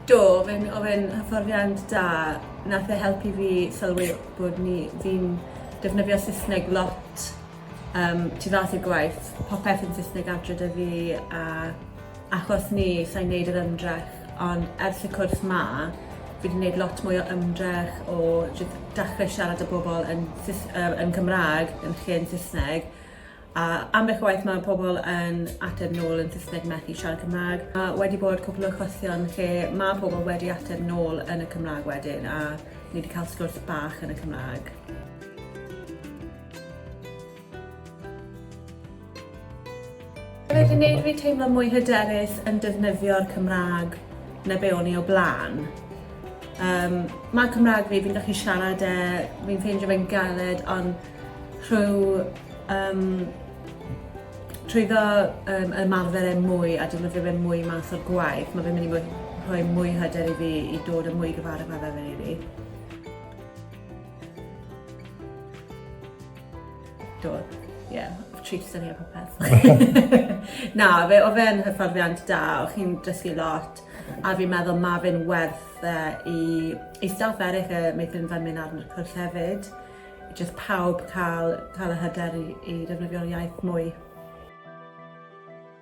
Do, oedd e'n oedd e'n hyfforddiant da. Nath e helpu fi sylwi bod ni fi'n defnyddio Saesneg lot um, tu fas i'r gwaith. Popeth yn Saesneg adre 'da fi a achos ni, sa'n neud yr ymdrech Ond ers y cwrs 'ma, fi 'di neud lot mwy o ymdrech o jys dechre siarad â bobol yn Saes- yy yn Cymra'g yn lle yn Sysneg a ambell waith ma' pobol yn ateb nôl yn Sysneg methu siarad Cymra'g a wedi bod cwpwl o achosion lle ma' pobol wedi ateb nôl yn y Cymra'g wedyn a ni 'di ca'l sgwrs bach yn y Cymra'g. Mae fe'n neud fi teimlo mwy hyderus yn defnyddio'r Cymrâg na be o'n i o bla'n. Yym, ma' Cymrâg fi, fi'n gallu siarad e, fi'n ffeindio fe'n galed ond rhyw yym trwyddo yym ymarfer e mwy a defnyddio fe mwy mas o'r gwaith ma' fe'n myn' i fod rhoi mwy o hyder i fi i dod yn mwy gymharol rili. Do, ie, yeah, treat syni o popeth. Na, fe, o fe'n hyfforddiant da, o chi'n dysgu lot, a fi'n meddwl mae fe'n werth uh, i, i staff eraill y meithrin fan mynd arno'r cwrs hefyd, jyst pawb cael, cael y hyder i, i defnyddio'r iaith mwy.